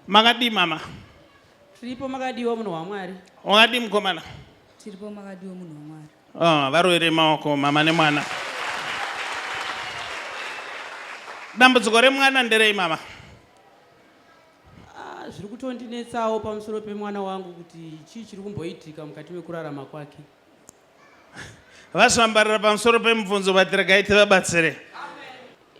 Makadii mama? Tiripo makadiwa munhu waMwari. Wakadii mukomana? Tiripo makadiwa munhu waMwari. Oh, varovere maoko mama nemwana. Dambudziko remwana nderei mama? Ah, zviri kutondinetsawo pamusoro pemwana wangu kuti chii chiri kumboitika mukati mekurarama kwake. Vazvambarira pamusoro pemubvunzo but regai tivabatsire.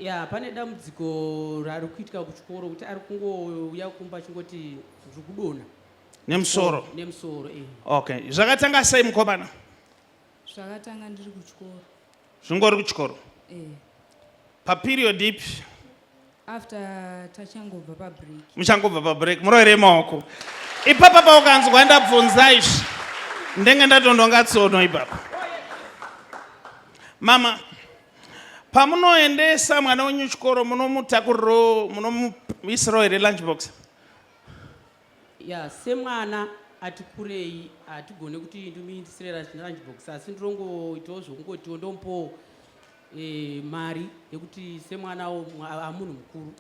Ya, pane dambudziko rari kuitika kuchikoro kuti ari kungouya kumba achingoti ndiri kudona. Nemusoro. Nemusoro eh. Okay. Zvakatanga sei mukomana? Zvakatanga ndiri kuchikoro. zvingori kuchikoro eh. paperiod ipi after tachangobva pabreak muchangobva pabreak muroere maoko ipapa paukanzwa ndabvunza izvi ndenge ndatondonga tsono ipapa mama pamunoendesa mwana wenyu chikoro munomutakuriro munomuisirawo here lunch box ya semwana ati kurei hatigone kuti ndimuindisire lunch box asi ndirongoitawo zvokungotiwo ndomupowo e, mari yekuti semwanawo amunhu mukuru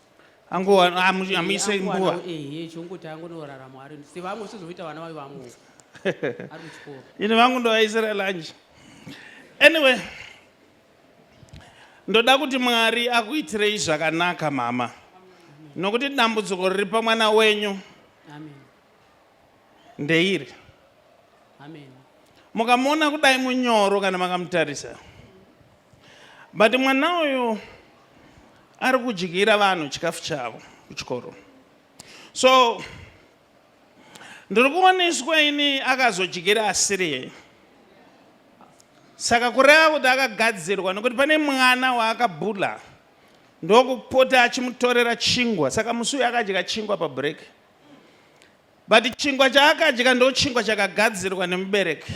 angoamuise nguva ehe chongoti angonorarama ari sevamwe sizoita vana vayo vamwe ari kuchikoro ini vangu ndovaisira lunch anyway Ndoda kuti Mwari akuitirei zvakanaka mama nokuti dambudziko riri pamwana wenyu ndeiri mukamuona kudai munyoro kana makamutarisa but mwana uyu ari kudyira vanhu chikafu chavo kuchikoro so Ndiri kuoneswa ini akazodyira asiriye. Saka kureva kuti akagadzirwa nekuti pane mwana waakabula ndokupota achimutorera chingwa. Saka musi uyu akadya chingwa pabreak. But chingwa chaakadya ndochingwa chakagadzirwa nemubereki.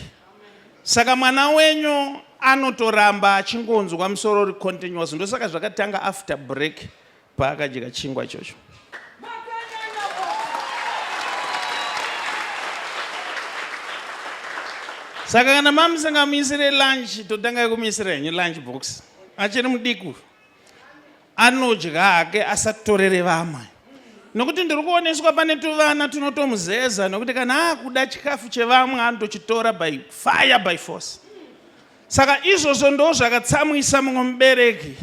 Saka mwana wenyu anotoramba achingonzwa musoro uri continuous ndosaka zvakatanga after break. paakadya chingwa ichocho saka kana mamusingamuisire lunch totanga kumuisira henyu lunch box achiri mudiku anodya hake asatorere vamwe nokuti ndiri kuoneswa pane tuvana tunotomuzeza nokuti kana akuda chikafu chevamwe anotochitora by fire by force saka izvozvo ndo zvakatsamwisa mumwe mubereki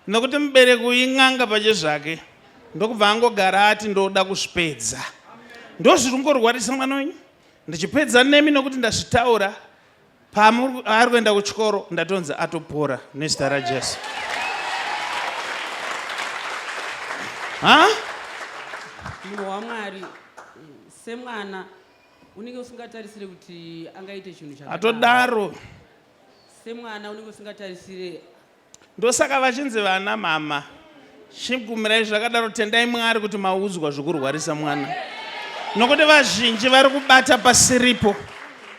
Nokuti mubereki uyu in'anga pachezvake ndokubva angogara ati ndoda kuzvipedza. Ndozviri kungorwarisa mwana wenyu ndichipedza nemi nokuti ndazvitaura paari kuenda kuchikoro ndatonzi atopora nezita rajesu ha munhu wamwari semwana unenge usingatarisire kuti angaite chinhu chatodaro semwana unenge usingatarisire Ndosaka vachinzi vana mama chigumirai zvakadaro tendai mwari kuti maudzwa zvikurwarisa mwana nokuti vazhinji vari kubata pasiripo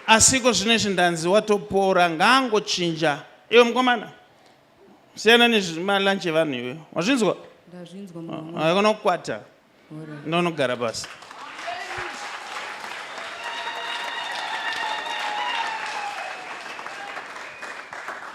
asiko zvino izvi ndanzi watopora ngaangochinja iwe mukomana siyana nezvimalanchi evanhu iwe wazvinzwa akona kukwata ndonogara pasi